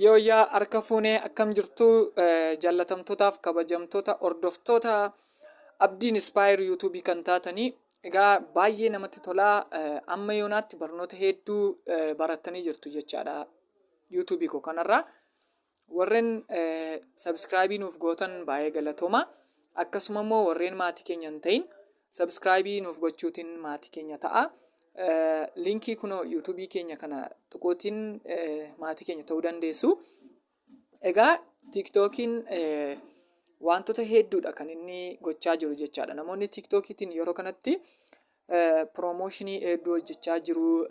Yooyyaa harka fuunee akkam jirtu jallatamtootaaf kabajamtoota hordoftoota abdiin ispaayer yuutuubii kan taatanii egaa baay'ee namatti tolaa amma yoonaatti barnoota hedduu barattanii jirtu jechaadha yuutuubii koo kanarraa warreen sabiskiraabii nuuf gootan baay'ee galatooma akkasuma immoo warreen maatii keenya hin ta'in Subscribe nuuf gochuutiin maatii keenya ta'a. Linkii kunoo YouTube keenya kana tuquutiin maatii keenya ta'uu dandeessu. Egaa TikTokiin wantoota hedduudha kan inni gochaa jiru jechaadha. Namoonni TikTokiitiin yeroo kanatti piroomooshinii hedduu hojjechaa jiru.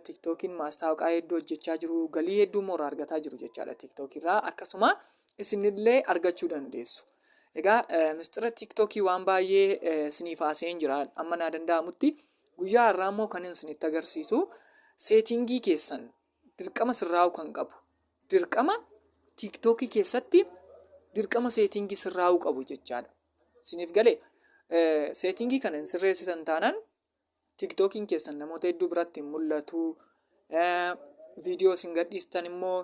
TikTokiin maastaawaqaa hedduu hojjechaa jiru. Galii hedduu immoo irraa argataa jiru jechaadha TikTokiirraa. Akkasuma isinillee argachuu dandeessu. Egaa mistira tiiktookii waan baay'ee isiniif haasa'een jira amma naa danda'amutti guyyaa har'aa immoo kan isinitti agarsiisu seetingii keessan dirqama sirraa'uu kan qabu dirqama tiiktookii keessatti dirqama seetingii sirraa'uu qabu jechaadha. Isiniif galee seetingii kana hin sirreessitan taanaan tiiktookiin keessan namoota hedduu biratti hin mul'atu viidiyoo isin gadhiistan immoo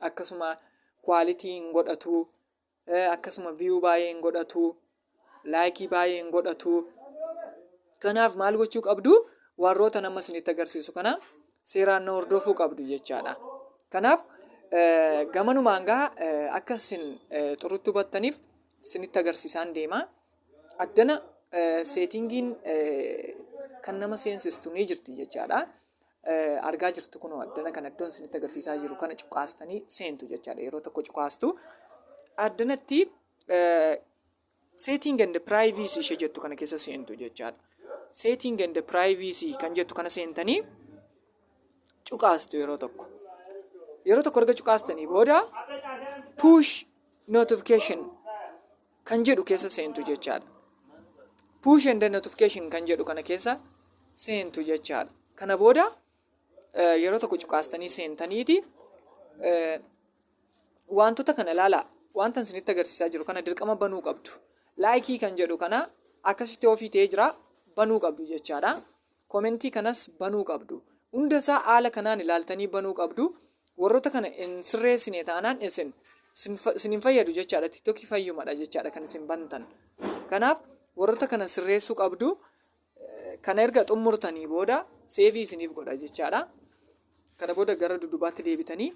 akkasuma kwaalitii hin godhatu. akkasuma viyuu baay'ee hin godhatu laayikii baay'ee hin godhatu kanaaf maal gochuu qabdu warroota nama isinitti agarsiisu kana seeraan na hordofuu qabdu jechaadha kanaaf gamanumaan gaa akka isin xurutti hubattaniif isinitti agarsiisaan deema addana seetingiin kan nama seensistu ni jirti jechaadha argaa jirtu kunoo addana kana iddoon isinitti agarsiisaa jiru kana cuqaastanii seentu jechaadha. Yeroo tokko cuqaastu addanatti setting and privacy ishee jettu kana keessa seentu jechaadha. Setting and privacy kan jettu kana seentanii cuqaastu yeroo tokko. Yeroo tokko erga cuqaastanii booda push notification kan jedhu keessa seentu jechaadha. Push and notification kan jedhu kana keessa seentu jechaadha. Kana booda eh, yeroo tokko cuqaastanii seentaniiti eh, wantoota kana ilaalaa wanta isinitti agarsiisaa jiru kana dirqama banuu qabdu. Laayikii kan jedhu kana akkasitti ofii ta'ee jira banuu qabdu jechaadha. Komentii kanas banuu qabdu. Hunda isaa haala kanaan ilaaltanii banuu qabdu. Warroota kana hin sirreessine taanaan isin isin hin fayyadu jechaadha. Tiktokii fayyumadha jechaadha kan isin bantan. Kanaaf warroota kana sirreessuu qabdu. Kana erga xumurtanii booda seevii isiniif godha jechaadha. Kana booda gara dudubaatti deebitanii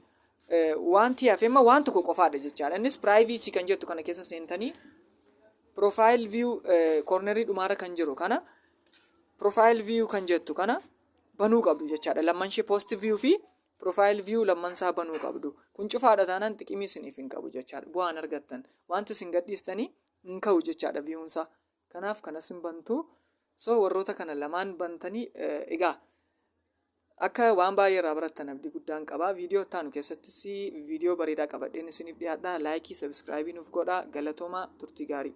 wanti hafe amma waan tokko qofaadha jechaadha. Innis privacy kan jettu kana keessa seentanii profile view cornerii dhumaarra kan jiru kana profile view kan jettu kana banuu qabdu jechaadha lamman ishee post view fi profile view lamman isaa banuu qabdu kun cufaadha taanaan xiqimii isiniif hin qabu jechaadha bu'aan argattan wanti isin gadhiistanii hin ka'u jechaadha viewun isaa kanaaf kanas hin bantu so warroota kana lamaan bantanii egaa akka waan baay'ee irraa barattan abdii guddaan qaba viidiyoo ittaanu keessattis viidiyoo bareedaa qabadheen isiniif dhiyaadha laayikii sabiskiraayibii nuuf godhaa galatoomaa turtii gaarii